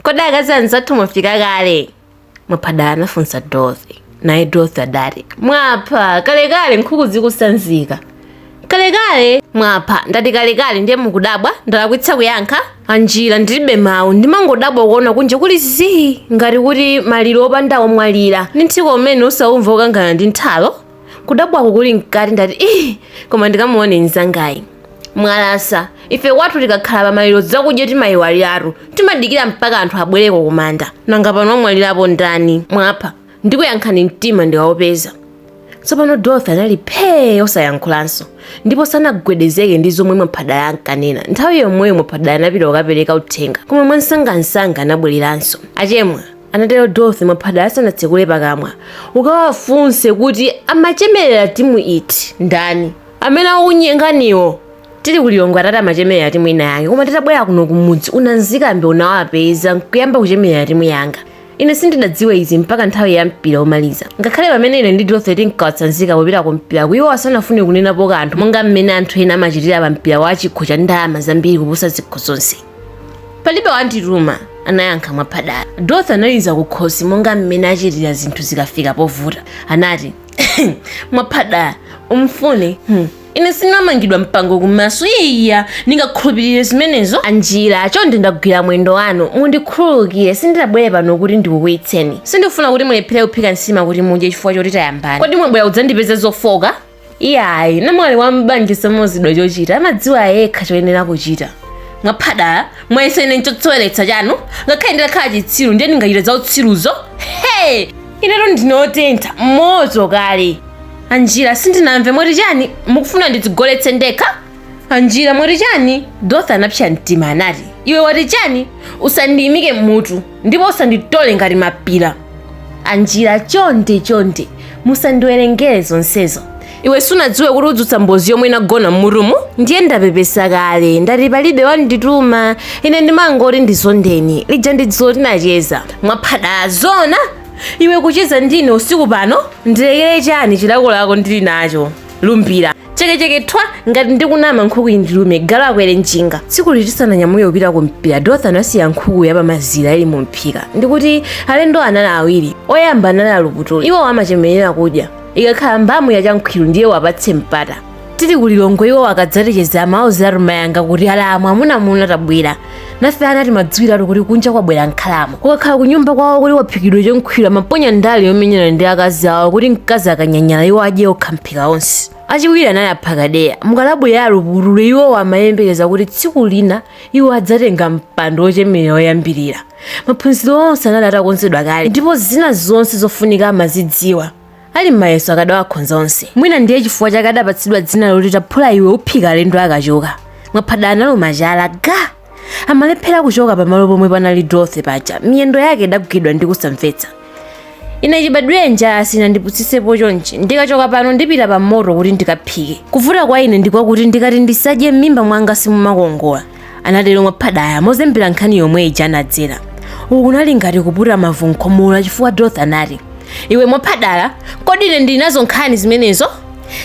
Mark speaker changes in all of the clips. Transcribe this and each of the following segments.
Speaker 1: kodi akazi anzathu mwafika kale mwaphadala anafunsa dorothy naye dorothy adati mwapha kalekale nkhuku zikusanzika kalekale mwapha ndati kalekale ndiye mukudabwa ndalakwitsa kuyankha anjira ndilibe mawu ndimangodabwa kuona kunja kuli zii ngati kuti maliro opanda womwalira ndi nthiko umene usaumva ukangana ndi nthalo kudabwako kuli mkati ndati ii koma ndikamuone mzangayi mwalasa ife kwathu tikakhala pamaliro zakudya timayiwaliratu timadikira mpaka anthu abwereko kumanda nanga pano wamwalirapo ndani mwapha ndikuyankhani mtima ndikawupeza tsopano dorothy anali phee osayankhulanso ndipo sanagwedezeke ndi zomwe mwaphadala ankanena nthawi yomweyo mwaphadala anapita kukapereka uthenga koma mwansangansanga anabwereranso achemwa Anatero Dorothy Mwaphadala asanatsekule pakamwa. Ukawafunse kuti amachemerera timu iti, ndani? Amene akukunyenganiwo. Tili ku Lilongwe atati amachemerera timu ina yake koma titabwera kuno kumudzi unanzikambe unawapeza n'kuyamba kuchemerera timu yanga. Ine sindidadziwe izi mpaka nthawi ya mpira womaliza. Ngakhale pamene ine ndi Dorothy tinkawatsanzika popita ku mpiraku iwo asanafune kunenapo kanthu monga mmene anthu ena amachitira pa mpira wa chikho cha ndalama zambiri kuposa zikho zonse. palibe wandituma anayankha mwaphadala dorothy analiza kukhosi monga mmene achitira zinthu zikafika povuta anati mwaphadala umfune hmm. ine sinamangidwa mpango kumaso iya ndingakhulupirire zimenezo anjira chonde ndagwira mwendo wanu mundikhululukire sindidabwere pano kuti ndikukwiyitseni sindifuna kuti mulephere kuphika nsima kuti mudye chifukwa choti tayambana kodi mwabwera kudzandipeza zofooka iyayi namwali wa m'banja samauzidwa chochita amadziwa yekha choyenera kuchita mwaphadala mwayesa ine nchoseweretsa chanu ngakhale nditakhala chitsiru ndiye ndingachita za utsiruzo he inetu ndine otentha moto kale anjira sindinamve mwati chani mukufuna ndidzigoletse ndekha anjira mwati chani dorothy anapsa mtima anati iwe wati chani usandiyimike mutu ndipo usanditole ngati mapira anjira chonde chonde musandiwerengere zonsezo iwe sunadziwe kuti udzutsa mbozi yomwe inagona m'mutumu ndiye ndapepesa kale ndati palibe wandituma ine ndimangoti ndizondeni lija ndi dzulo tinacheza mwaphadala zona iwe kucheza ndine usiku pano ndilekere chani chilakolako ndili nacho lumbira chekecheke thwa ngati ndikunama nkhuku indilume galu akwere njinga tsikuli tisananyamuke wopita kumpira dorothy anasiya nkhuku yapamazira ili mumphika ndikuti alendo anali awiri oyamba anali aluputuli iwo amachemerera kudya ikakhala mbamu ya chankhwiru ndiye wapatse mpata tili kulilongwe iwo akadzaticheza amauzira rumayanga kuti alamu amunamuna tabwera nafe ana timadziwiratu kuti kunja kwabwera nkhalamu kukakhala kunyumba kwawo kuti kwaphikidwa chonkhwira amaponya ndale yomenyana ndi akazi awo kuti mkazi akanyanyala iwo adye okha mphika onse achiwiri anali aphakadeya mukalabu ya alupulule iwowo amayembekeza kuti tsiku lina iwo adzatenga mpando wochemerera woyambirira maphunziro onse anali atakonzedwa kale ndipo zina zonse zofunika amazidziwa ali m'mayeso akadawakhonza onse mwina ndiye chifukwa chake adapatsidwa dzina loti taphula iwe uphika alendo akachoka mwaphada analo machala ga amalephera kuchoka pamalo pomwe panali dorothy paja miyendo yake idagwidwa ndi kusamvetsa ine chibadwire njala sinandipusitsepo chonchi ndikachoka pano ndipita pa moto kuti ndikaphike kuvuta kwa ine ndikwakuti ndikati ndisadye m'mimba mwanga simumakongola anatero mwaphadala mozembera nkhani yomwe ija anadzera uku kunali ngati kuputa mavu nkhomola chifukwa dorothy anati iwe mwaphadala kodi ine ndili nazo nkhani zimenezo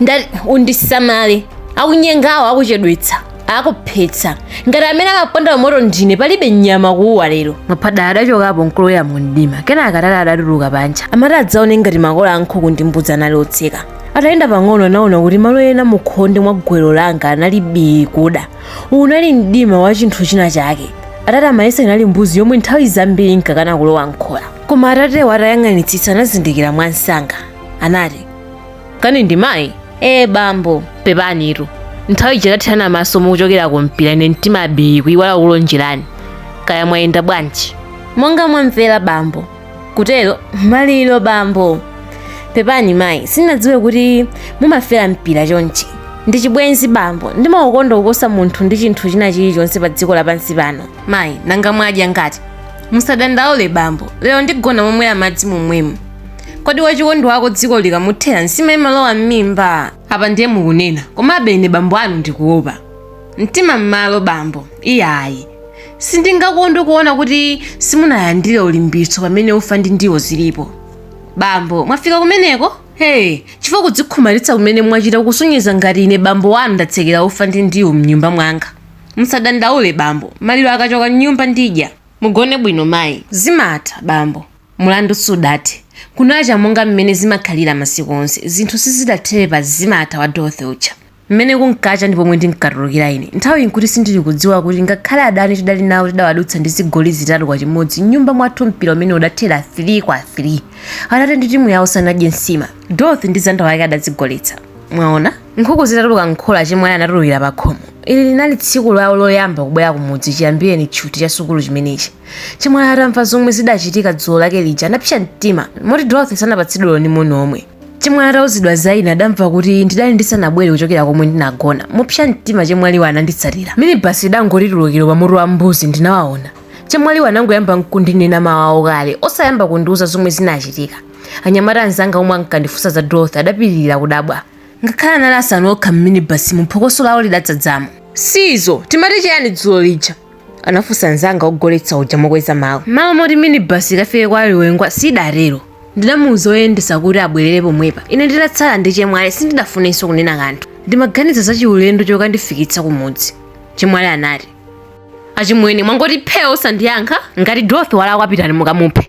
Speaker 1: ndati undisamale akunyengawo akuchedwetsa akuphetsa ngati amene amaponda moto ndine palibe nyama kuuwa lero mwaphadala adachokapo nkulowa mu mdima kenaka atate adatuluka panja amati adzaone ngati makola a nkhuku ndi mbudzi anali otseka atayenda pang'ono anaona kuti malo ena mukhonde mwa gowelo langa anali bii kuda unali mdima wa chinthu china chake atate amayesa inali mbuzi yomwe nthawi zambiri inkakana kulowa mkhola koma atatewo atayang'anitsitsa anazindikira mwamsanga anati kani ndi mayi ee bambo pepanitu nthawi ija tathirana maso mukuchokera ku mpira ine mtima bii kuyiwala kulonjerani kaya mwayenda bwanji monga mwamvera bambo kutero maliro bambo pepani mayi sinadziwe kuti mumafera mpira chonchi ndi chibwenzi bambo ndimaukonda kuposa munthu ndi chinthu china chilichonse pa dziko lapansi pano mayi nanga mwadya ngati musadandaule bambo lero ndigona momwe amadzi momwemo kodi wachikondi wako dziko likamuthera nsima imalowa m'mimba apa ndiye mukunena komabe ine bambo anu ndikuopa mtima m'malo bambo iyayi sindingakondwe kuona kuti simunalandire ulimbitso pamene ufa ndi ndiwo zilipo bambo mwafika kumeneko ee chifukwa kudzikhumalitsa kumene mwachita kusonyeza ngati ine bambo wanu ndatsekera ufa ndi ndiwo mnyumba mwanga musadandaule bambo maliro akachoka mnyumba ndidya mugone bwino mayi zimatha bambo mulandu sudathe kunacha monga mmene zimakhalira masiku onse zinthu sizidathere pa zimatha wa dorothy uja M'mene kunkacha ndi pomwe ndinkatulukira ine. Nthawiyi nkuti sindili kudziwa kuti ngakhale adani tidali nawo tidawadutsa ndi zigoli zitatu kwa chimodzi m'nyumba mwathu mpira umene udathera 3 kwa 3. Atate ndi timu yawo sanadye nsima. Dorothy ndi zanda wake adadzigoletsa. Mwaona? Nkhuku zitatuluka m'khola achemwali anatulukira pakhomo. Ili linali tsiku lawo loyamba kubwera kumudzi chiyambireni tchuthi cha sukulu chimenechi. Chemwali atamva zomwe zidachitika dzulo lake lija anapsa mtima moti Dorothy sanapatsidwe olo ndi moni omwe. chemwali atauzidwa za ine adamva kuti ndidali ndisanabwere kuchokera komwe ndinagona mopsa mtima chemwaliwa ananditsatira minibasi idangotulukira pamutu wa mbuzi ndinawaona chemwaliwa anangoyamba nkundinena mawawo kale osayamba kundiuza zomwe zinachitika anyamata anzanga omwe ankandifunsa za dorothy adapitiriza kudabwa ngakhale anali asanu okha mminibasi mu phokoso lawo lidadzadzamo si izo timati chiyani dzulo lija anafunsa mnzanga wogoletsa uja mokweza mawu malo moti minibasi ikafike kwa aliwengwa sidatero ndinamuuza oyendesa kuti abwerere pomwepa ine ndinatsala ndi chemwali sindidafunenso kunena kanthu ndimaganiza za chiulendo chokandifikitsa kumudzi chemwali anati achimwene mwangoti phee osandiyankha ngati dorothy walakwa pitani mukamuphe